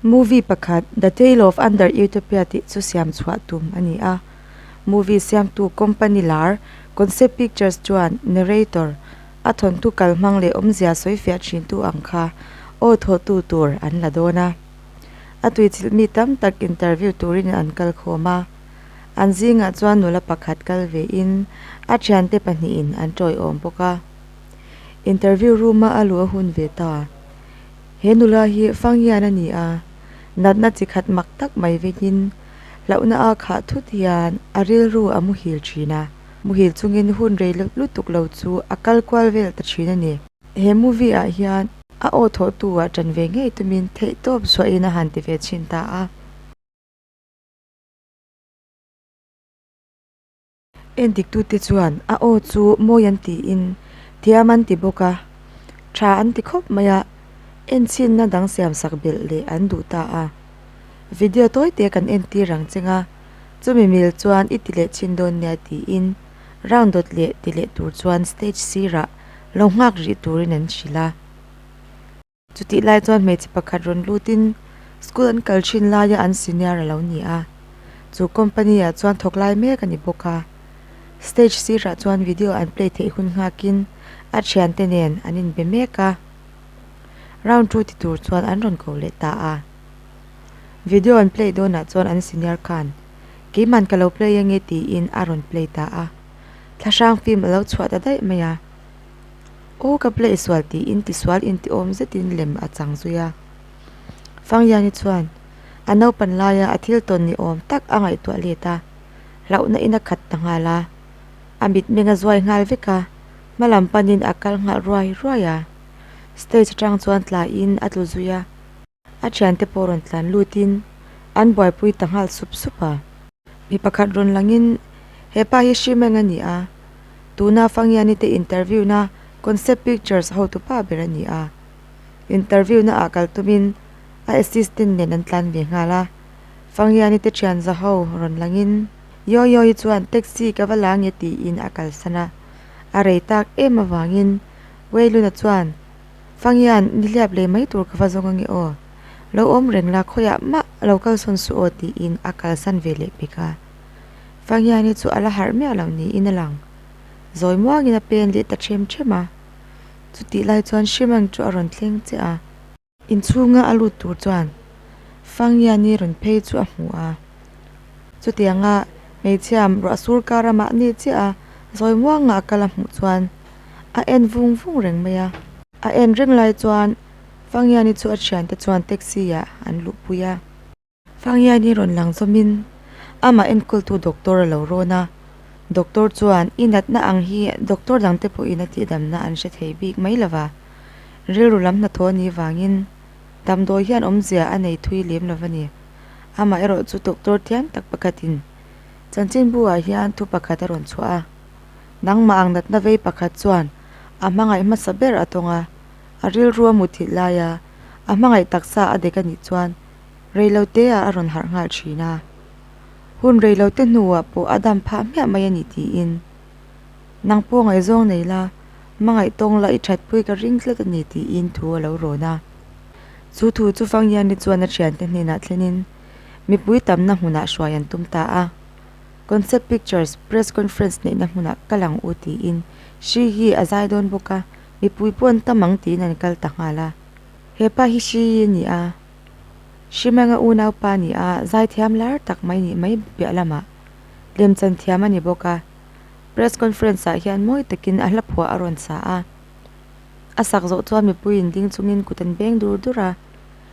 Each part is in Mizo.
Movie pakhat The Tale of Under Utopia tih chu siam chhuah tum a ni a. Movie siamtu Company lar Concept Pictures chuan Narrator, a thawntu kal hmang leh awmzia sawifiah thintu ang kha aw thawhtu tur an la dawn a. A tuichilh mi tam tak interview turin an kal khawm a. An zingah chuan nula pakhat kal ve in a thiante pahnihin an tawih awm bawk a. Interview room-a a luh a hun ve ta. He nula hi Fanghian a ni a, natna chi khat mak tak mai vekin hlauhna a khah thut hian a rilru a muhil thin a, muhil chungin hun rei lutuk lo chu a kal kual vel ta thin a ni. He movie-ah hian a aw thawhtu-a ṭan ve ngei tumin theihtawp suahin a han ti ve chhin ta a. En diktute chuan a aw chu mawi an tiin thiam an ti bawk a, tha an ti khawp mai a, en chhinna dang siam sak belh leh an duh ta a. Video tawi te kan en tir ang che nga, chumi mil chuan i ti leh chin dawn nia tiin rang dawt leh ti leh tur chuan stage sirah lo nghak rih turin an hrilh a. Chutih lai chuan hmeichhe pakhat rawn lut in school an kal thin lai a an senior alo ni a, chu company ah chuan thawk lai mek a ni bawk a. Stage sirah chuan video an play theih hun nghak in a thian te nen an in be mek a, round two ti tur chuan an rawn ko leh ta a. Video an play dawn ah chuan an senior khan keiman ka lo play ange tiin a rawn play ta a, thlahrang film alo chhuah ta daih mai a. Aw ka blaih sual tiin tisual intiawm zetin lem a chang zui a. Fanghiani chuan a naupan laia a thil tawn ni awm tak a ngaihtuah let a, hlauhna in a khat ta nghal a, a mitmeng a zuai nghal vek a, hmalam panin a kal nghalh ruai ruai a. Stage atang chuan tlaiin a tlu zui a. A thiante pawh rawn tlan lut in an buaipui ta nghal sup sup a. Mi pakhat rawn lang in, He pa hi Hri Meng a ni a, tuna Fangiani te interview na Concept Pictures hotu pa ber a ni a. Interview na ah kal tum in a assistant nen an tlan ve nghal a. Fangiani te thian za ho rawn lang in, Yaw Yaw hi chuan taxi ka va la nge tiin a kalsan a. A rei tak em avang in Wei Luna chuan Fangian, nihliap leh mai tur ka va zawng ange aw. Lo awm reng la, khawiah mah a lo kalsawn suh aw tiin a kalsan ve leh bik a. Fangian hi chu a la harh miah loh niin a lang. Zawi muangin a pen leh ta ṭhem ṭhem a. Chutih lai chuan Shrimang chu a rawn thleng che a. Inchhunga a lut tur chuan Fangian i rawn phei chu a hmu a. Chutianga hmeichhia ruah sur kara mahni chiaha zawi muanga a kal a hmuh chuan. a en vung vung reng mai a. A en reng lai chuan Fangiani chu a thiante chuan taxi-ah an luhpui a. Fangiani rawn lang zawmin amah enkultu doctor a lo rawn a. Doctor chuan i natna ang hi doctor dangte pawhin a tihdamna an hre thei bik mai lo va, rilru lam hnathawh a nih vangin damdawi hian awmzia a nei thui lem lo va ni. Amaherawhchu doctor thiang tak pakhatin chanchinbu-ah hian thu pakhat a rawn chhuah a. Nangmah ang natna vei pakhat chuan a hmangaih hmasa ber a tawng a, a rilru a muthilh lai a, a hmangaih taksa a dek a nih chuan reilo teah a rawn harh nghal thin a. Hun reilo te hnuah pawh a dam phah hmiah mai a ni tiin, Nang pawh ngaihzawng nei la, hmangaih tawng la i thatpui ka ring tlat a ni tiin thu a lo rawn a. Chu thu chu Fanghiani chuan a thiante hnenah thlenin mipui tamna hmunah hruai an tum ta a. Concept Pictures press conference neihna hmunah ka lang u tiin Shri hi a zai dawn bawk a, mipui paw'n tam ang tiin an kal ta nghal a. Hepa hi Shri a ni a, Shri Manga unau pa ni a, zai thiam lar tak mai nih mai piah lamah lem chan thiam a ni bawk a. Press conference ah hian mawi takin a hlaphuah a rawn sa a, a sak zawh chuan mipuiin ding chungin kut an beng dur dur a,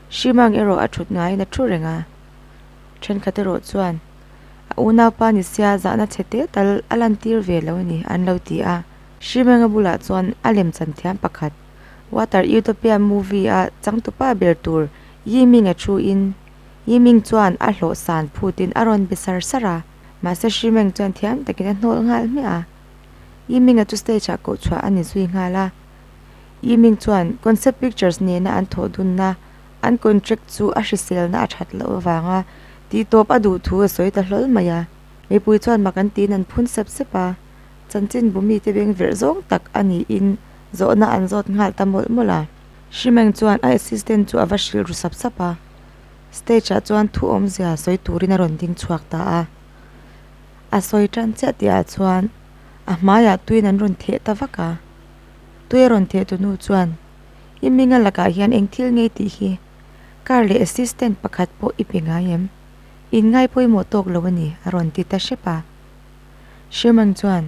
Shri Mang erawh a thut ngaiin a thu reng a, thenkhat erawh chuan. a unaupa ni sia zahna chhe te tal a lantir ve lo a ni an lo ti a. Hrimenga bulah chuan a lem chan thiam pakhat, Water Utopia movie-a changtupa ber tur Yiming-a thu in, Yiming chuan a hlawh san phut in a rawn be sar sar a, mahse Hrimeng chuan thiam takin a hnawl nghal hmiah a. Yiming-a chu stage-ah koh chhuah a ni zui nghal a. Yiming chuan Concept Pictures nena an thawh dun na An contract chu a hriselna a that loh avanga ti tawp a duh thu a sawi ta hlawl mai a. Mipui chuan mak an tiin an phun sep sep a, chanchin bu mite beng verh zawng tak a niin zawhna an zawt nghal ta mawlh mawlh a. Hrimeng chuan a assistant chu a va hrilh ru sap sap a, stage ah chuan thu awmzia sawi turin a rawn ding chhuak ta a. A sawi tan chiah tih ah chuan a hmaiah tuiin an rawn theh ta vak a. Tui a rawn theh tu nu chuan. I minga lakah hian eng thil ngei tih hi? Car leh assistant pakhat pawh i pe ngai em? In ngai pawimawh tawk lo a ni, a rawn ti ta hrep a. Sherman chuan,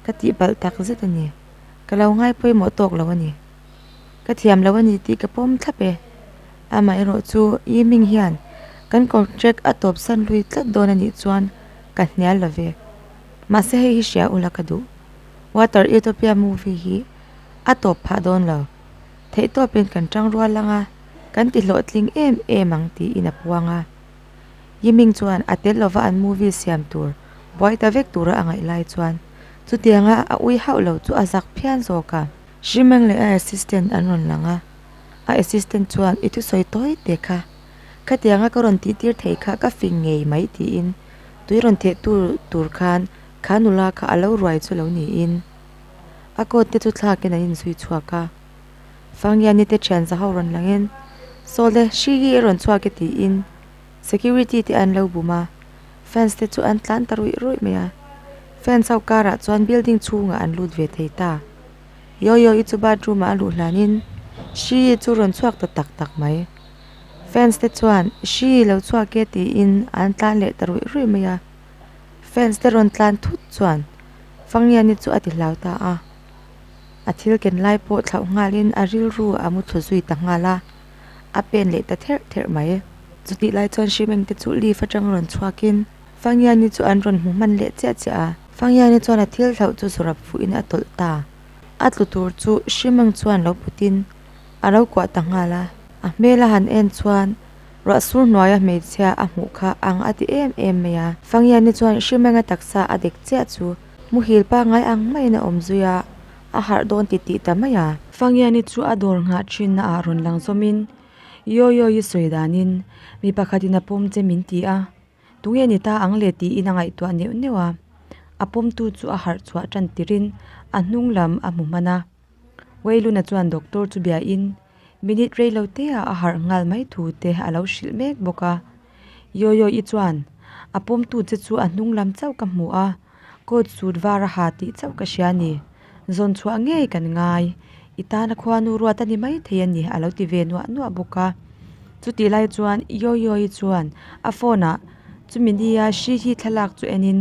Ka tih balh tak zet a ni. Ka lo ngai pawimawh tawk lo a ni. Ka thiam lo a ni tih ka pawm thlap e. Amaherawh chu, Yi Ming hian kan contract a tawpsan lui tlat dawn a nih chuan ka hnial lo ve. Mahse hei hi hria ula ka duh. Water Utopia movie hi a tawp phah dawn lo. Theih tawpin kan tang rual ang a, kan ti hlawhtling em em ang tiin a puang a. Yiming chuan a tel lova an movie siam tur buai ta vek tura a ngaih lai chuan chutianga a ui hauh lo chu a zak phian zawk a. Hrimeng leh a assistant an rawn lang a, a assistant chuan i thusawi tawi teh kha, khatianga ka rawn tihtir theih kha ka fing ngei mai tiin tui rawn theh tu tur khan kha nula kha a lo ruai chu lo niin. A coat te chu thlak in an in zui chhuak a, Fangiani te thian za ho rawn lang in, Sawle, hri hi i rawn chhuak e tiin security te an lo bum a, fence te chu an tlan ta ruih ruih mai a. Fence ho karah chuan building chhungah an lut ve thei ta. Yoyo i chu bathroom ah a luh hlan in, hri hi chu rawn chhuak ta tak tak mai. Fence te chuan hri i lo chhuak e tiin an tlan leh ta ruih ruih mai a. fans te rawn tlan thut chuan Fangiani chu a ti hlau ta a, a thil ken lai pawh thlauh nghalin a rilru a muthu zui ta nghal a, a pen leh ta therh therh mai. Chutih lai chuan Hrimeng te chu leave atang rawn chhuakin Fangiani chu an rawn hmu hman leh chiah chiah a. Fangiani chuan a thil thlauh chu zu rap fuhin a tawlh ta. A tlu tur chu Hrimeng chuan lo putin a lo kuah ta nghal a, a hmel a han en chuan. Ruahsur hnuaia hmeichhia a hmuh kha ang a ti em em mai a. Fangiani chuan hrim eng a taksa a dek chiah chu. Muhil pangngai ang maiin a awm zui a, a harh dawn ti ti ta mai a. Fangiani chu a dawr nghah thinna ah rawn lang zawmin, Yaw yaw i sawi danin, mi pakhatin a pawm che min ti a, tunge ni ta ang le tiin a ngaihtuah neuh neuh a. A pawmtu chu a harh chhuah tan tirin a hnunglam a hmu hman a. Wei Luna chuan doctor chu biahin minute rei lo têa a harh nghal mai thu te a lo hrilh mek bawk a. Yoyo i chuan a pawmtu che chu a hnung lam chauh ka hmu a, coat suit var a ha tih chauh ka hria a ni. Zawn chhuah ngei kan ngai. I tana khuanu ruat a ni maithei a ni a lo ti ve nuah nuah bawk a. Chutih lai chuan Yoyo i chuan a phone ah chumi nia hri hi thlalak chu en in.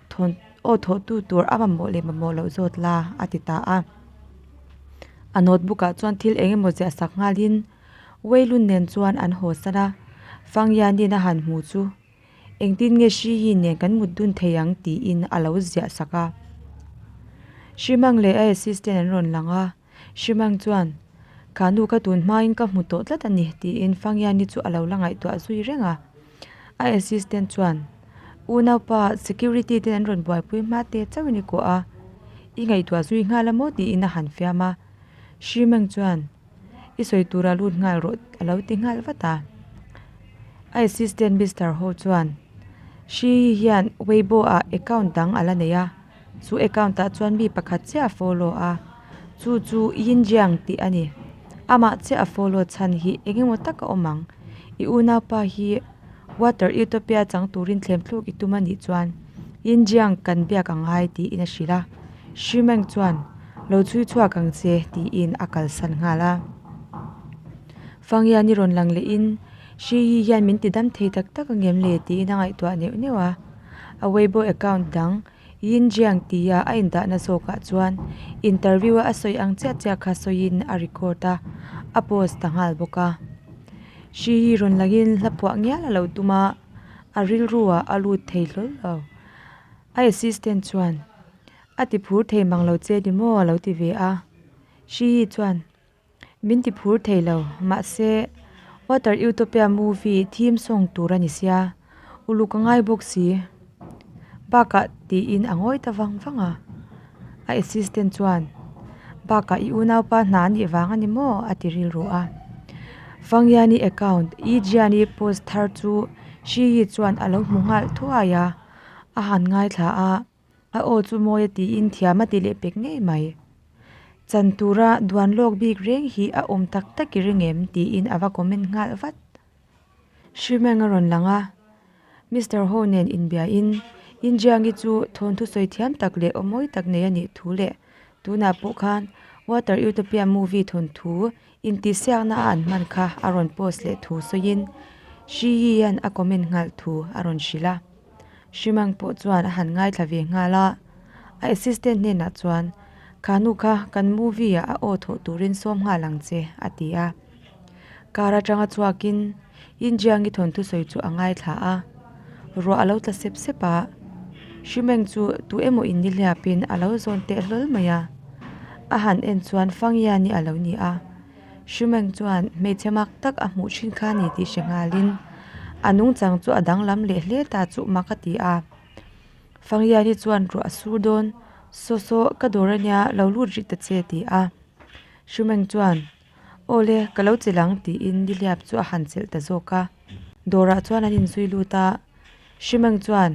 thawn aw thawhtu tur a mamawh leh mamawh loh zawt la a ti ta a a notebook ah chuan thil eng emaw ziah sak nghal in wei lun nen chuan an haw san a Fangianin a han hmu chu eng tin nge Hrihi nen kan mut dun thei ang tiin a lo ziah sak a Hrimang leh a assistant an rawn lang a. Hrimang chuan, Ka nu ka tun hmain ka hmu tawh tlat a ni, tiin Fangiani chu a lo la ngaihtuah zui reng a. A assistant chuan, U Naupa, security ten an rawn buaipui hma te chauh i ni kuah a, i ngaihtuah zui nghal a maw? tiin a han fiam a. Hrimang chuan, I sawi tura lut nghal rawh, a lo ti nghal vat a. A assistant Mister Ho chuan, Hri hian Weibo-ah account dang a la nei a. Chu account ah chuan mi pakhat chiah a follow a, chu chu Yin Jiang tih a ni. Amah chiah a follow chhan hi eng nge maw tak a awm ang. I unaupa hi Water Utopia chang turin thlem thluk i tum a nih chuan Yin Jiang kan biak a ngai tiin a hrilh a. Hri Meng chuan Lo chhui chhuak ang che tiin a kalsan nghal a. Fang Yan i rawn lang lehin Hri Yi hian min tidam thei tak tak a ngem le tiin a ngaihtuah neuh neuh a. A Weibo account dang Yin Jiang tia a indahna zawkah chuan interview a a sawi ang chiah chiah kha sawiin a record a, a post ta nghal bawk a. Hri hi rawn langin hla phuah ngial a lo tum a, a rilruah a lut thei hlawl lo. A assistant chuan, A tiphur thei mang lo che ni maw? a lo ti ve a. Hri hi chuan, Min ti phur thei lo, mahse Water Utopia movie theme song tur a ni sia, uluk a ngai bawk si. Bakah tiin a ngawi ta vang vang a. A assistant chuan, Bakah i unaupa hna a nih vang a ni maw? a ti rilru a. Vangiani account i Jiani post thar chu Hriyi chuan a lo hmu nghal thuai a, a han ngaithla a. a aw chu mawi a tiin thiam a ti leh pek ngei mai chan tura duan lawk bik reng hi a awm tak tak i ring em tiin a va comment nghal vat hrimeng a rawn lang a Mister ho nen inbia in India nge chu thawnthu sawi thiam tak leh awmawi tak nei a nih thu leh tunah pawh khan water utopia movie thawnthu-- Intihsiakna a an hman kha a rawn post leh thu sawiin Hri Yian a comment nghalh thu a rawn hrilh a. Hri Mang pawh chuan a han ngaithla ve nghal a, a assistant hnenah chuan, Khanu kha kan movie-ah a aw thawh turin sawm nghal ang che, a ti a. Car atanga chhuakin. In Jiangi thawntu sawi chu a ngaithla a, ruah a lo tla sep sep a, Shimeng chu tu emaw in nihliap in a lo zawn teh hlawl mai a. A han en chuan Fangyani a lo ni a, Shimeng chuan hmeichhe mak tak a hmuh thin kha a ni tih hre nghal in a nungchang chu a danglam leh hle ta chuh mak a ti a. Fangyani chuan ruah a sur dawn, Saw saw ka dawr a nia lo lut rih ta che ti a, Shimeng chuan. Aw le, ka lo chelh ang, tiin nihliap chu a han chelh ta zawk a. Dawrah chuan an inzui lut a, Hrimeng chuan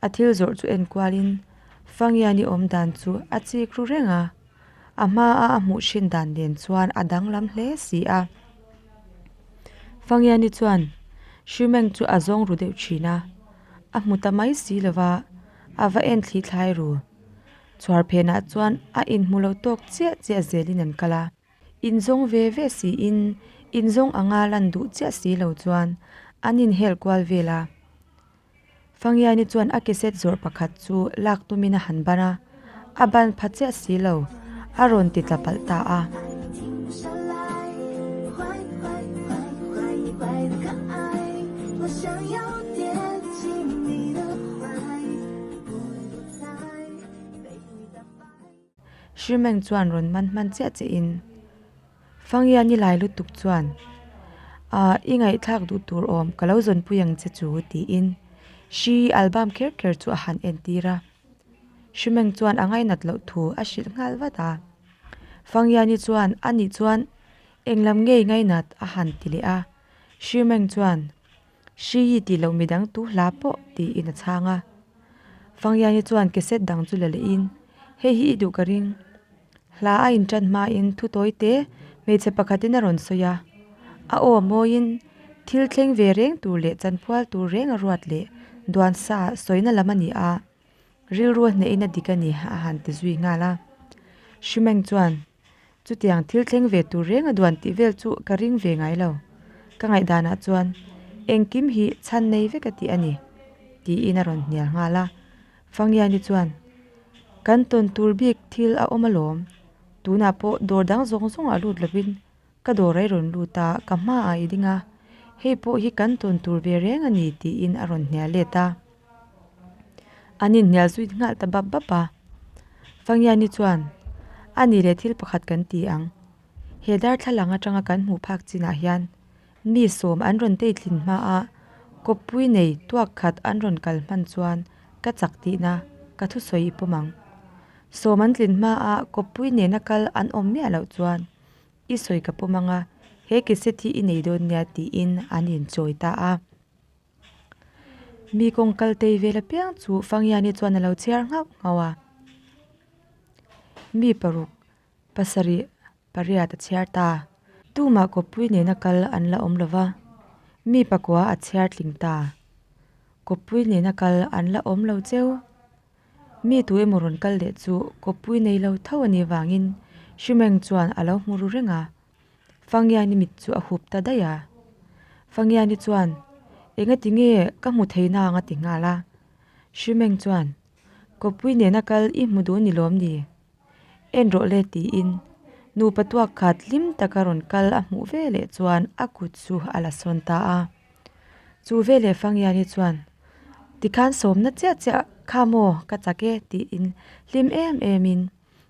a thil zawrh chu enkualin Fangia ni awm dan chu a chik ru reng a. A hmaa a hmuh hrin dan nen chuan a danglam hle si a. Fangia ni chuan Hrimeng chu a zawng ru deuh thin a, A hmu ta mai si lova, a va en thlihthlai ru. Chhuar phenah chuan a inhmu lo tawk chiah chiah zelin an kal a, inzawng ve ve siin inzawng anga lan duh chiah si lo chuan an inhel kual vel a. Fangiaini chuan a keset zawrh pakhat chu lak tumin a han ban a, a ban pha chiah si lo, a rawn ti tla palh ta a. Hri Meng chuan rawn man hman chiah chiah in, Fangia ni lai lutuk chuan, Aah, i ngaihthlak duh tur awm, ka lo zawnpui ang che chu, tiin Hri Albam kher kher chu a han entir a. Hri Meng chuan a ngainat loh thu a hrilh nghal vat a. Fangia ni chuan a nih chuan englam ngei ngainat a han ti leh a. Hri Meng chuan. Hrii tih loh midang tu hla pawh tiin a chhang a. Fangyaini chuan cassette dang chu la leh in, Hei hi i duh ka ring. Hla a in tan hma in thu tawi te hmeichhe pakhat in a rawn sawi a. A aw mawi in thil thleng ve reng tur leh chanphual tur reng a ruat leh duan sa sawi na lam a ni a. Rilru a hnehhin a dik a ni a han ti zui nghal a. Hri Meng chuan, Chutiang thil thleng ve tur reng a duan tih vel chu ka ring ve ngai lo. Ka ngaihdanah chuan, Engkim hi chhan nei vek a tih a ni, tiin a rawn hnial nghal a. Fangiani chuan, Kan tawn tur bik thil a awm alawm. Tunah pawh dawr dang zawng zawngah lut lovin Ka dawr a i rawn lut a, ka hmaah i ding a, hei pawh hi kan tawn tur ve reng a ni tiin a rawn hnial let a. An inhnial zuit nghal ta bap bap a. Fangiani chuan, A ni le thil pakhat kan ti ang. He darthlalang atanga kan hmuh phak chinah hian mi sawm an rawn tei tlin hma a, kawppui nei tuak khat an rawn kal hman chuan ka chak tihna ka thusawi i pawm ang. Sawm an tlin hma a kawppui nena kal an awm miah loh chuan, I sawi ka pawm anga he cassette hi i nei dawn nia tiin an inchawi ta a. Mi kawng kal tei vel apiang chu Fangiani chuan a lo chhiar nghauh nghauh a. Mi paruk pasarih pariat a chhiar ta a. Tumah Kawppui nena kal an la awm lova, mi pakua a chhiar tling ta a. Kawppui nena kal an la awm lo cheu. Mi tu emaw rawn kal leh chu Kawppui nei lo tho a nih vangin Hrimeng chuan a lo hmu ru reng a. Fangiani mit chu a hup ta daih a. Fangiani chuan, Enga ti nge ka hmu thei na ang a ti nghal a. Hrimeng chuan, Kawppui nena kal i hmu duh a ni lawm ni? En rawh le tiin nupa tuak khat hlim taka rawn kal a hmuh ve leh chuan a kut chu a la sawn ta a chu veleh Fangiani chuan tikhan sawmna chiah chiah kha maw ka chak e tiin hlim em em in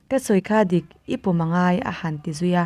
ka sawi kha dik i pawm a ngai a han ti zui a.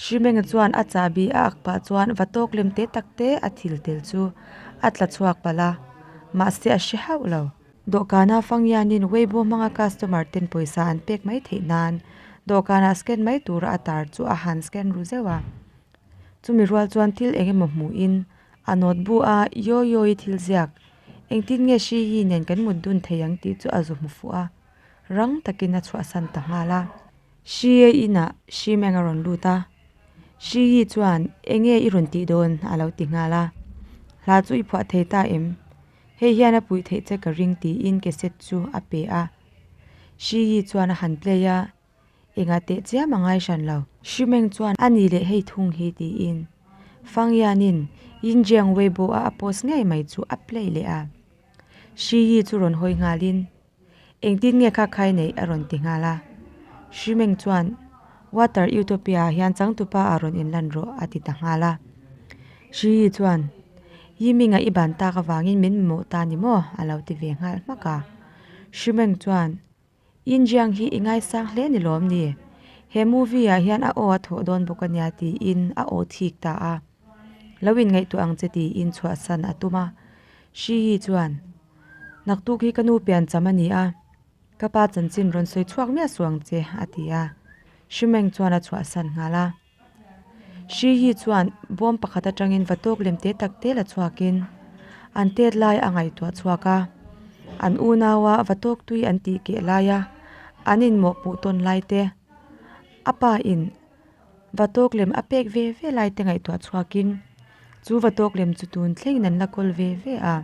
Hrimenga chuan a chahbi a ak pah chuan va tawk lem te tak te a thil tel chu a tla chhuak palh a, mahse a hre hauh lo. Dawhkana Fangyianin Weibo hmanga customer ten pawisa an pek mai theih nan dawhkanah scan mai tura a tar chu a han scan ru zeuh a. Chumi rual chuan thil eng emaw hmuhin a nawt bu a, Yaw Yawi thil ziak, engtin nge hri hi nen kan mut dun thei ang tih chu a zu hmu fuh a, rang takin a chhuahsan ta nghal a. Hria inah Hrimeng a rawn lut a, Hri hi chuan enge i rawn tih dawn a lo ti nghal a, hla chu i phuah thei ta em? Hei hian a puih theih che ka ring tiin cassette chu a pe a. Hri hi chuan a han play a, engah teh chiam a ngai hran lo. Hrimeng chuan a ni leh hei thung hi tiin Fangyanin Yinjiang Weibo-a a post ngei mai chu a play leh a. Hri hi chu rawn hawi nghalin Engtin nge kha khai neih? a rawn ti nghal a. Hri Meng chuan, Water Utopia ah hian changtupa a rawn inlan rawh, a ti ta nghal a. Hri Yi chuan, Yi Minga i ban tak avangin min mamawh ta ni maw? a lo ti ve nghal hmak a. Hri Meng chuan, Yin Jiang hi i ngaisang hle ni lawm ni? He movie ah hian a aw a thawh dawn bawk a nia, tiin a aw thik ta a. Lo in ngaihtuah ang che ti in chhuahsan a tum a. Shiyi chuan, Naktuk hi ka nu pian cham a ni a, ka pa chanchin rawn sawi chhuak miah suh ang che, a ti a. Shimeng chuan a chhuahsan nghal a. Shiyi chuan bawm pakhat atangin va tawk lem te tak te la chhuak in an tet lai a ngaihtuah chhuak a. An unau a va tawk tui an tih keh lai a, an inmawhpuh tawn lai te a pa in. Va tawk lem a pek ve ve lai te ngaihtuah chhuakin chu va tawk lem chu tun thlengin an la kawl ve ve a.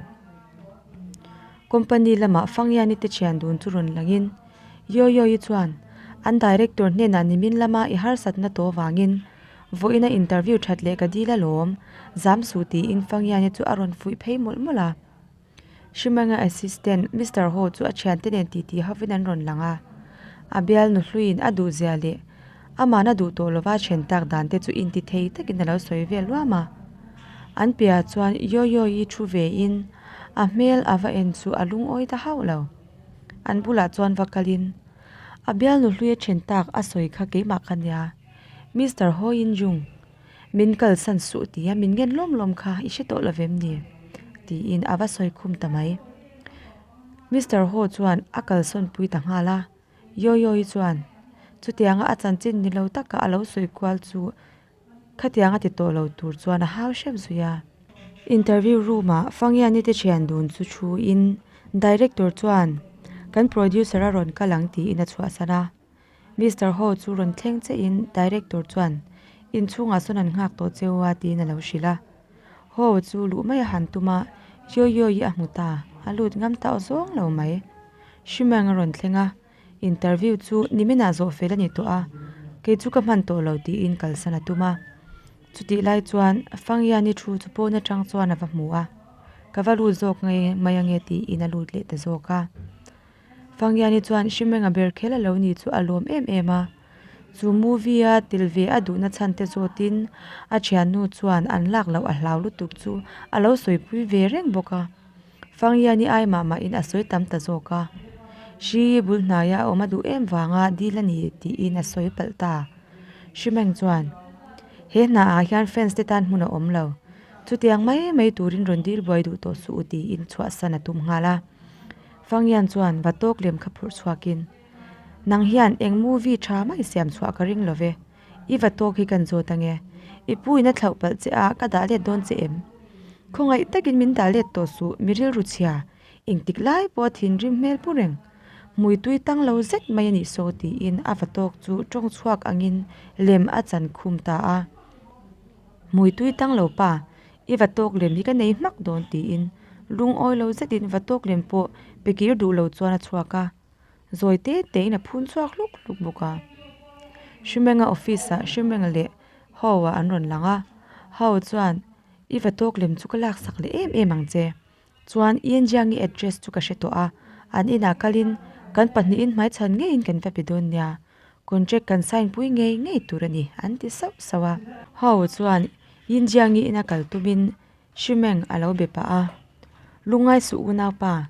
Company lama Fangyani te thian dun chu rawn langin Yoyoyi chuan an Director hnenah nimin lama i harsatna tawh vangin vawiina interview that leh ka dil alawm zam suh tiin Fangyani chu a rawn fuih phei mawlh mawlh a. Hrimanga assistant Mister Ho chu a thiante nen ti ti hovin an rawn lang a, a bial nu hluin a duhzia leh amahna duh tawh lova thian tak dan te chu intithei takin alo sawi vel luam a, an piahah chuan Yoyo-i thu ve in a hmel ava en chu a lungawi ta hauh lo, an bulah chuan va kal in a bial nu hluia thian tak a sawi kha keimah ka nia Mister Ho-in jung. Min kalsan suh tia min ngen lawm lawm kha, i hre tawh lo vem ni? tiin a va sawi khum ta mai. Mister Ho chuan a kalsawnpui ta nghal a, Yo Yo hi chuan chutianga a chanchin ni lo taka a lo sawi kual chu khatiang a ti tawh lo tur chuan a hau hrep zui a. Interview roomah Fangiani te thian dun chu thuin Director chuan kan producer a rawn kal ang tiin a chhuahsan a. Mister Ho chu rawn thleng cheiin Director chuan, Inchhungah sawn an nghak tawh che u a, tiin a lo hrilh a. Ho chu luh mai a han tum a, Yoyoy-i a hmu ta, a lut ngam ta aw zawng lo mai. Shimeng a rawn thleng a, Interview chu ni minah zawh fel a ni tawh a, kei chu ka hman tawh lo, tiin kalsan a tum a. Chutih lai chuan Fang Yan-i thu chu pawn atang chuan a va hmu a, ka va lut zawk nge mai ange, tiin a lut leh ta zawk a. Fangyani chuan Hrimenga ber khel a lo nih chu a lawm em em a. Chu movie a tel ve a duhna chhan te zawt in a thiannu chuan an lak loh a hlau lutuk chu a lo sawipui ve reng bawk a. Fangyani ai mah mah in a sawi tam ta zawk a. Hri bul hnai a awm a duh em vang a dil a ni tih in a sawi palh ta. Hrimeng chuan He hna ah hian fans te tan hmun a awm lo. Chutiang mai mai tur in rawn dil buai duh tawh suh u tiin chhuah san a tum nghal a. Fangyan chuan va tawk lem kha phurh chhuak in, Nang hian eng movie tha mai siam chhuah ka ring lo ve, i va tawk hi kan zawt ange, i puiin a thlauh palh che a, ka dah let dawn che em? Khawngaih takin min dah let tawh suh, mi rilru chhia engtik lai pawha thinrim hmel pu reng, hmui tui tang lo zet mai a nih saw tiin a va tawk chu tawng chhuak angin lem a chan khum ta a, Hmui tui tang lo pa, I va tawk lem hi ka nei hmak dawn tiin lungawi lo zetin va tawk lem pawh pe kir duh lo chuan a chhuak a, zawi te te in a phun chhuak hluk hluk bawk a. Hrimenga office ah Hrimeng leh Haw-a an rawn lang a, Haw chuan, I va tawk lem chu ka laksak leh em em ang che. Chuan i engiangi address chu ka hre tawh a, an inah kalin kan pahnihin hmaichhan ngeiin kan va pe dawn nia, contract kan sign pui ngei ngei tur a ni, an ti sauh sauh a. Hau chuan i engiangi ina kal tumin Hrimeng a lo be pah a, Lungai suh unau pa,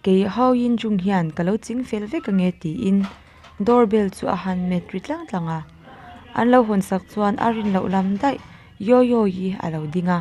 kei hau i injung hian ka lo ching fel vek ange tiin door bell chu a han met ri tlang tlang a. An lo hawnsak chuan a rin loh lam daih yoyo i a lo ding a.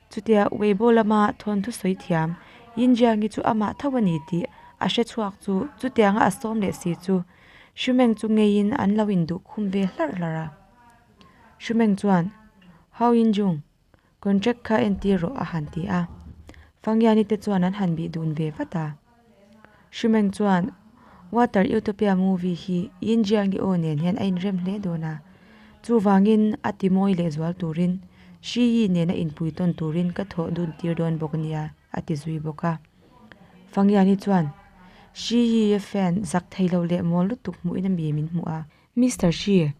Chutia Weibo lama thawnthu sawi thiam, Yin Jiang hi chu amah tho a ni tih a hre chhuak chu chutianga a sawm leh si chu Hru Meng chu ngeiin an lo induh khum ve hlar hlar a. Hru Meng chuan, Hau Yin Jiang, contract kha entir rawh a han ti a. Fang Yani te chuan an han bih dun ve vat a. Hrimeng chuan, Water Utopia movie hi Yin Jian Ge Aw nen hian a inrem hle dawn a. Chuvangin a timawi lehzual turin Hri Yi nena inpui tawn turin ka thawh dun tir dawn bawk a nia, a ti zui bawk a. Fang Yanni chuan, Hri Yi a fan zak thei lo leh mawl lutuk hmuhin a mi min hmu a. Mister Hri,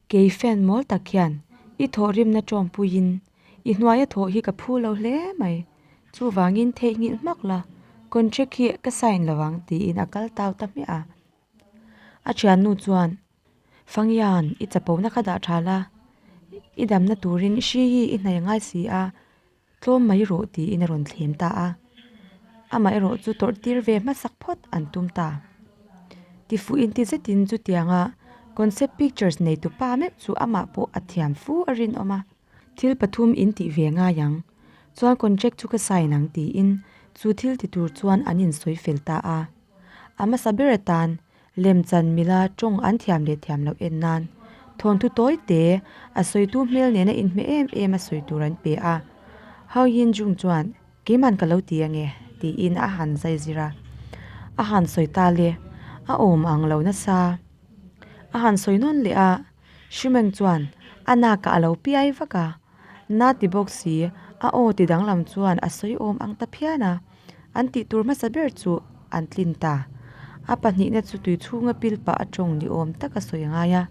kei fan mawl tak hian i thawh rimna tawngpuiin I hnuaia thawh hi ka phu lo hle mai. Chuvangin theihnghilh hmak la, contract hi ka sign lo ang, tiin a kal tau ta hmiah a. A thiannu chuan, Fangyan, i chapona kha dah tha la, i damna turin hri hi i hnai ngai si a, tlawm mai rawh, tiin a rawn thlem ta a. Amaherawh chu tawrh tir ve hmasak phawt an tum ta. Tifuh intizetin chutianga concept pictures neitu pa meuh chu amah pawh a thiam fu a rinawm a. Thil pathum in tih ve ngai ang, chuan contract chu ka sign ang tiin chu thil ti tur chuan an in sawi fel ta a. A hmasa ber atan Lemchan mila tawng an thiam leh thiam loh en nan thawnthu tawi te a sawitu hmel nena in hme em em a sawi tur an pe a. Hau Yin Jung chuan keiman ka lo ti ange tiin a han zai zir a. A han sawi ta le, a awm ang lo nasa a han sawi nawn leh a. Shimeng chuan a nakah a lo piai vak a, Na ti bawk si, a aw ti danglam chuan a sawi awm ang ta phian a, an tih tur hmasa ber chu an tlin ta. A pahnihna chu tui chhunga pil pah atawng ni awm tak a sawi ngai a,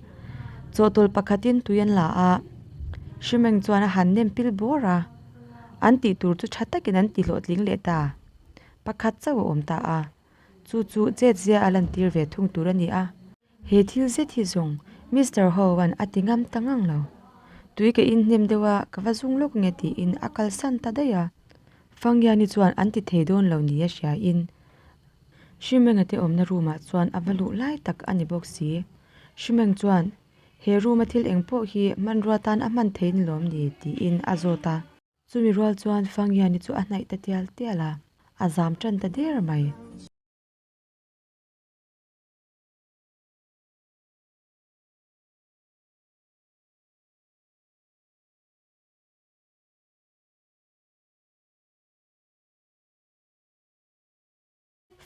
chawhtawlh pakhatin tui an la a, Shimeng chuan a han nem pil bawr a, an tih tur chu tha takin an ti hlawhtling leh ta, pakhat chauh a awm ta a, chu chu chet zia a lantir ve thung tur a ni a. He thil zet hi zawng Mister Hoan a ti ngam ta ngang lo. Tui ka inhnem deuh a ka va zung lawk nge tiin a kalsan ta daih a. Fangiani chuan an ti thei dawn lo ni a hriain Hrimenge te awmna room ah chuan a va luh lai tak a ni bawk si. Hrimeng chuan, He room a thil eng pawh hi hmanrua tan a hman thei ni lawm ni tiin a zawt a. Chumi rual chuan Fangiani chu a hnaih ta tial tial a, a zam tan ta der mai.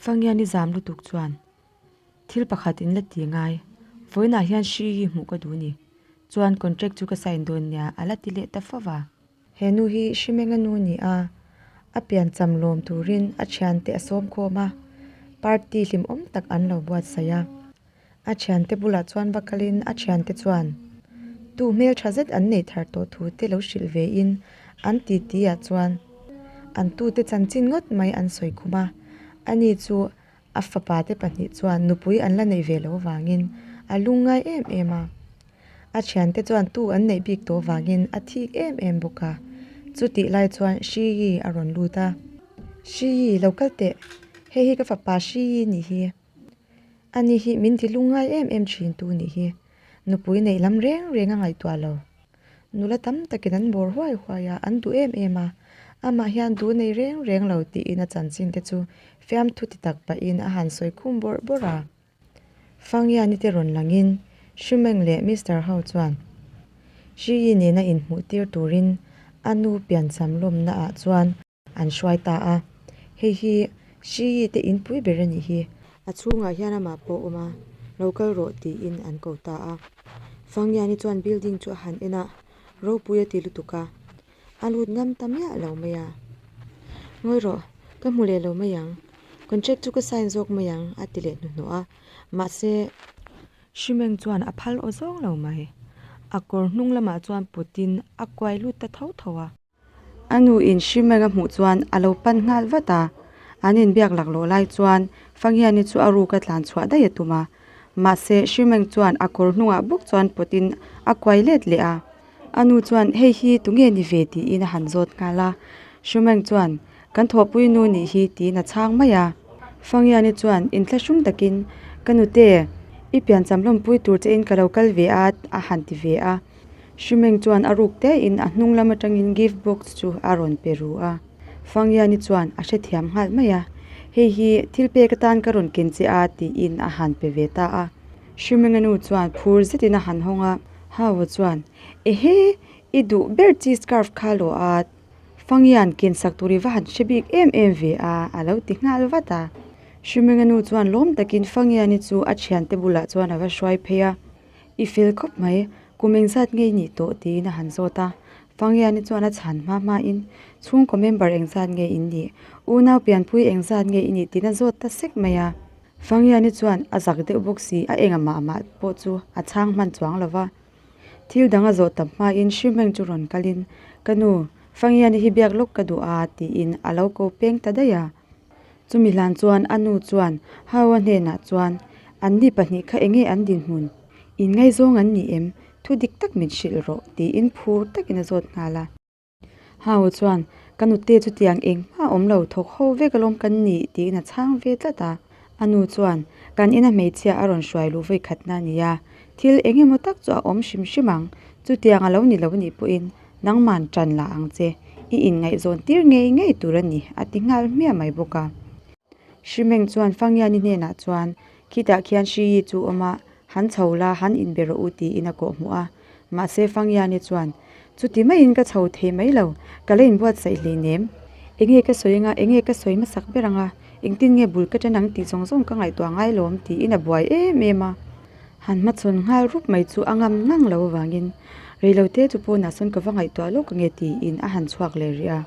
Fangia nizam lutuk chuan thil pakhat in la ti ngai, vawiinah hian hrii hi hmuh ka duh a ni. Chuan contract chu ka sign dawn nia, a la ti leh ta fo va. He nu hi Hrimenga nu ni a, a pian cham lawm turin a thiante a sawm khawm a, party hlimawm tak an lo buatsaih a. A thiante bulah chuan va kalin a thiante chuan tu hmeltha zet an neih thar tawh thu te lo hrilh vein an titi ah chuan an tute chanchin ngawt mai an sawi khum a, ani chu a fapa te pahnih chuan nupui an la neih ve loh avangin a lu ngai em em a, a thian te chuan tu an neih bik tawh avangin a thik em em bawk a, chutih lai chuan Hri Yi a rawn lut a, Hri Yi, lo kal teh, hei hi ka fapa Hri Yi ni hi, ani hi min ti lu ngai em em thin tu ni hi, nupui neih lam reng reng a ngaihtuah lo. Nula tam takin an bawr huai huai a, an duh em em a. Amah hian duh nei reng reng lo tiin a chanchin te chu fiam thuti tak pahin a han sawi khum bawrh bawrh a. Fangiani te rawn langin Hri Meng leh Mister ho chuan Hri Yi nena inhmuh tir turin a nu piancham lawmna ah chuan, an hruai ta a, hei hi Hriyi te inpui ber a nih hi. A chhungah hian amah pawh awm a, lo kal rawh tiin an ko ta a. Fangyani chuan building chu a han en a, ropui a ti lutuk a, a lut ngam ta miah lo mai a. Ngawi rawh, ka hmu leh lo mai ang, contract chu ka sign zawk mai ang a ti leh hnuhnawh a, mahse, Hrimeng chuan a phal awzawng lo mai, a kawr hnung lamah chuan putin a kuai lut ta tho tho a. A nu in Shimanga hmuh chuan a lo pan nghal vat a, an inbiak laklawh lai chuan Fangiani chu a ruk a tlan chhuah daih a tum a. Mahse, Shimang chuan a kawr hnungah bawk chuan pawtin a kuai let leh a. A nu chuan hei hi tunge ni ve tiin a han zawt nghal a. Shimang chuan Kan thawhpui nu nih hi tiin a chhang mai a. Fangiani chuan in thla hrum takin, Ka nute, i piancham lawmpui tur che in ka lo kal ve a, a han ti ve a. Hrimeng chuan a ruk tein a hnung lam atangin gift box chu a rawn pe ru a. Fangiani chuan a hrethiam nghal mai a, Hei hi thil pek atan ka rawn ken che a tiin a han pe ve ta a. Hrimenga nu chuan phur zetin a han hawng a. Hau-a chuan, Ehe, i duh ber chi scarf kha lawh at. Fangian kensak tur i va han hre bik em em ve a, a lo ti nghal vat a. Hrimenganu chuan lawm takin Fangiani chu a thiante bulah chuan a va hruai phei a, I fel khawp mai, kum engzat nge i nih tawh tiin a han zawt a. Fangiani chuan a chhan hma hma in, Chhungkaw member engzat nge in nih? Unau pianpui engzat nge i nih tiin a zawt ta sek mai a. Fangiani chuan a zak deuh bawk si, a eng amah amah pawh chu a chhang hman chuang lo va. Thil dang a zawh ta hmain hrim reng chu rawn kal in, Ka nu, Fangiani hi biak lawk ka duh a, tiin a lo ko peng ta daih a. Chumi hlan chuan a nu chuan Haua hnenah chuan, Anni pahnih kha enge an dinhmun? Inngaizawng an ni em? Thu dik tak min hrilh rawh, tiin phur takin a zawt nghal a. Hau chuan, Ka nute chu tiang engmah awm lo, thawk ho vek alawm kan ni tiin a chhang ve tlat a. A nu chuan, Kan ina hmeichhia a rawn hruai luh voikhatna a ni a, thil eng emaw tak chu a awm hrim hrim ang, chutiang a lo ni lo nih pawhin nangman ṭan la ang che, i inngaihzawn tir ngei ngei tur a ni, a ti nghal hmiah mai bawk a. Hrimeng chuan Fangiani hnenah chuan, Khitah khian Hriyi chu awm a, han chho la, han inbe rawh u tiin a kawhhmuh a. Mahse Fangyiani chuan, Chuti maiin ka chho thei mai lo, ka la inbuatsaih hleinem. Enge ka sawi anga, enge ka sawi hmasak ber anga, engtin nge bul ka ṭan ang tih zawng zawng ka ngaihtuah ngai lawm, tiin a buai em em a. Han hmachhawn nghal rup mai chu a ngam ngang lo avangin, Reilo te chu pawnah sawn ka va ngaihtuah lawk ange tiin a han chhuak leh rih a.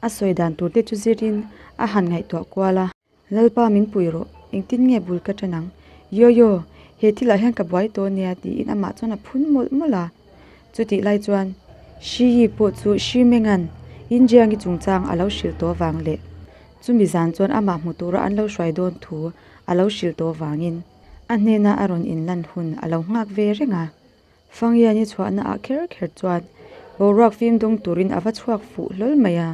A sawi dan turte chu zirin a han ngaihtuah kual a. Lalpa min puih rawh, engtin nge bul ka tan ang? Yaw yaw, he thil ah hian ka buai tawh ania tiin amah chuan a phun mawlh mawlh a. Chutih lai chuan Hri Yi pawh chu Hri Mengan in Jiangi chungchang a lo hrilh tawh vang leh. Chumi zan chuan amah hmu tura an lo hruai dawn thu a lo hrilh tawh vangin a hnena a rawn inlan hun a lo nghak ve reng a. Fangiani chhuahna ah kher kher chuan boruak fim dawng turin a va chhuak fuh hlawl mai a.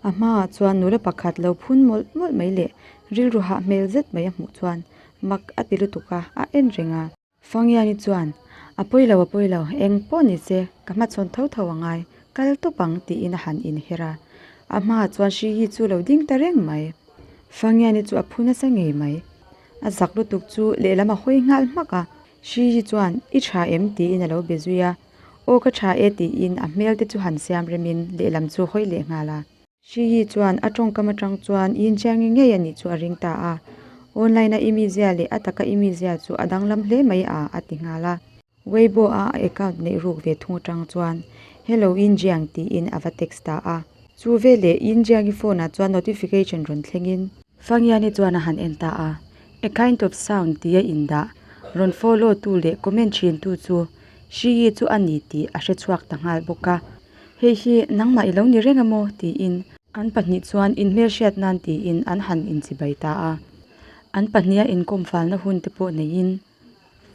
A hma ah chuan nula pakhat lo phun mawlh mawlh mai leh rilru hah hmel zet mai a hmuh chuan mak a ti lutuk a, a en reng a. Fangiani chuan, A pawi lo, a pawi lo, eng pawh ni che ka hmachhawn tho tho a ngai, kal tawp ang tiin a han in her a. A hma ah chuan Hrihi chu lo ding ta reng mai. Fangiani chu a phun nasa ngei mai. A zak lutuk chu lehlam a hawi nghal hmak a. Shiji chuan, I tha em? tiin a lo be zui a, Aw ka tha e tiin a hmel te chu han siam rem in lehlam chu a hawi leh nghal a. Shiji chuan a tawngkam atang chuan i inṭial ngei ngei a nih chu a ring ta a, Online a i mizia leh a taka i mizia chu a danglam hle mai a, a ti nghal a. Weibo a a account neih ruk ve thung atang chuan, Hello Yin Jiang tiin a va text ta a. Chu veleh Yin Jiang-i phone ah chuan notification rawn thleng in. Fang Yan-i chuan a han en ta a. A kind of sound tia indah, rawn follow tu leh comment ṭhin tu chu Hriyi chu a ni tih a hre chhuak ta nghal bawk a, hei hi nangmah i lo ni reng e maw tiin an pahnih chuan in hmelhriat nan tiin an han inchibai ta a, an pahniha inkawmfalna hun te pawh neiin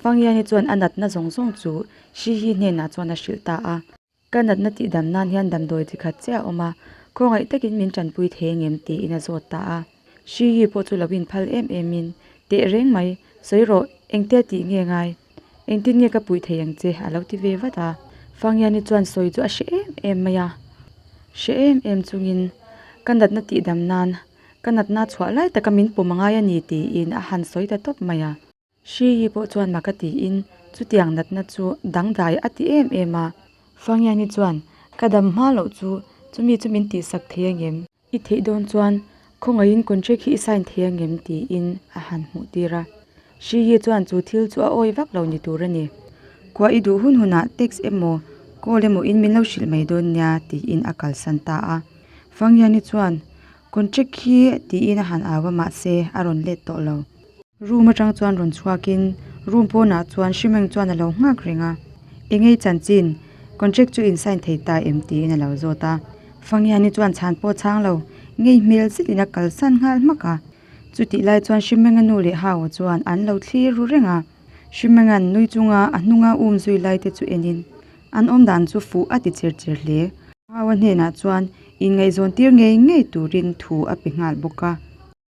Fangyangi chuan a natna zawng zawng chu Hriyi hnenah chuan a hrilh ta a. Ka natna tih dam nan hian damdawi chi khat che a awm a, khawngaih takin min tanpui thei ang em tiin a zawt ta a. Hri Yi pawh chu lo inphal em emin, Teh reng mai, sawi rawh, engtia tih nge ngai? Engtin nge ka puih thei ang che? a lo ti ve vat a. Fanghiani chuan sawi chu a hre em em mai a, hre em em chungin, Ka natna tih dam nan, ka natna chhuah lai taka min pawm a ngai a ni tiin a han sawi ta tawp mai a. Hri hi pawh chuan maka tiin, Chutiang natna chu dangdai a ti em em a. Fangyanni chuan, Ka dam hma loh chu chumi chu min tih sak thei angem? I theih dawn chuan khawngaihin contract hi i sign thei angem? tiin a han hmuh tir a. Hri hi chuan chu thil chu a awi vak lo ni tur a ni. Khua i duh hun hunah text emaw call emaw in min lo hrilh mai dawn nia tiin a kalsan ta a. Fangyanni chuan, Contract hi tiin a han au a mahse a rawn let tawh lo. Room atang chuan rawn chhuakin room pawnah chuan hrimeng chuan a lo nghak reng a, Engei chanchin contract chu in sign thei ta em tiin a lo zawt a, Fangiani chuan chhan pawh a chhang lo, ngei hmel zet in a kalsan nghal hmak a. Chutih lai chuan Hrimenga nu leh Hau-a chuan an lo thlir ru reng a, Hrimenga nui chunga a hnunga um zui lai te chu enin an awm dan chu fuh a ti chir chir hle. Hau-a hnenah chuan in ngaihzawn tir ngei ngei turin thu a pe nghal bawk a.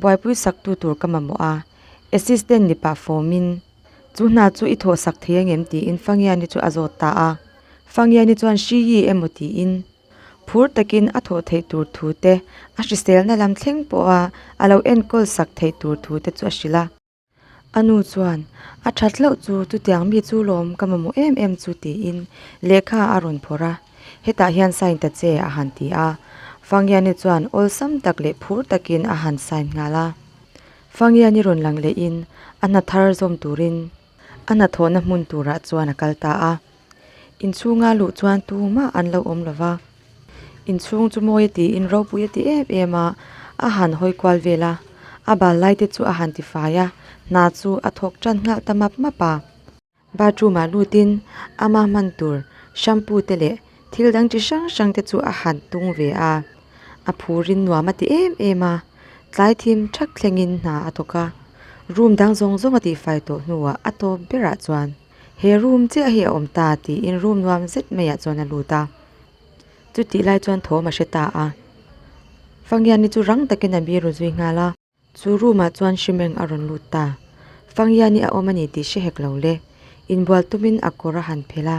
Buaipui saktu tur ka mamawh a, Assistant ni pah fawmin. Chu hna chu i thawh sak thei angem tiin Fangiani chu a zawt ta a. Fangiani chuan hriii emaw tiin phur takin a thawh theih tur thute, a hriselna lam thleng pawha a lo enkawl sak theih tur thute chu a hrilh a. A nu chuan, A that hlauh chu chutiang mi chu lawm ka mamawh em em chu tiin lehkha a rawn phawrh a, hetah hian sign ta che a han ti a. Fangiani chuan awlsam tak leh phur takin a han sign nghal a. Fangiani rawn lang lehin a hna thar zawm turin a hna thawhna hmun turah chuan a kal ta a. Inchhunga luh chuan tu mah an lo awm lo va, inchhung chu mawi a tiin ropui a ti em em a, a han hawi kual vel a, a bal lai te chu a han tifai a, hna chu a thawk tan nghal ta map map a. Bathroom ah lutin ama hman tur shampoo te leh thil dang chi hrang hrang te chu a han tung ve a, a phurin nuam a ti em em a, tlai thim ṭhak thlengin hna a thawk a, room dang zawng zawng a tifai tawh hnuah a tawp berah chuan. he room chiah hi a awm ta tiin room nuam zet mai ah chuan a lut a chutih lai chuan thawm a hre ta a fangian hi chu rang takin a biru zui nghal a chu room ah chuan hrimeng a rawn lut ta fangian hi a awm a ni tih hre hek lo le inbual tumin a kawr a han phelh a.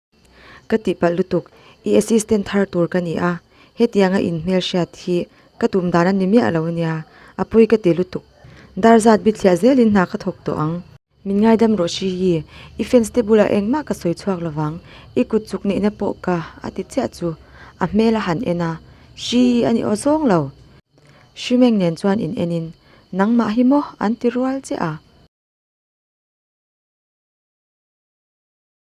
Ka tihpalh lutuk, i assistant thar tur ka ni a, hetianga in hmelhriat hi ka tum dan a ni miah lo nia, Apuii ka ti lutuk. Dar zat bithliah zel in hna ka thawk tawh ang. Min ngaidam rawh Hrihi, i fans te bulah engmah ka sawi chhuak lo vang, i kut chuk neihna pawh ka, a ti chiah chu. A hmel a han en a, Hrii a ni aw zawng lo. Hrimeng nen chuan in enin, Nangmah hi maw? an ti rual che a.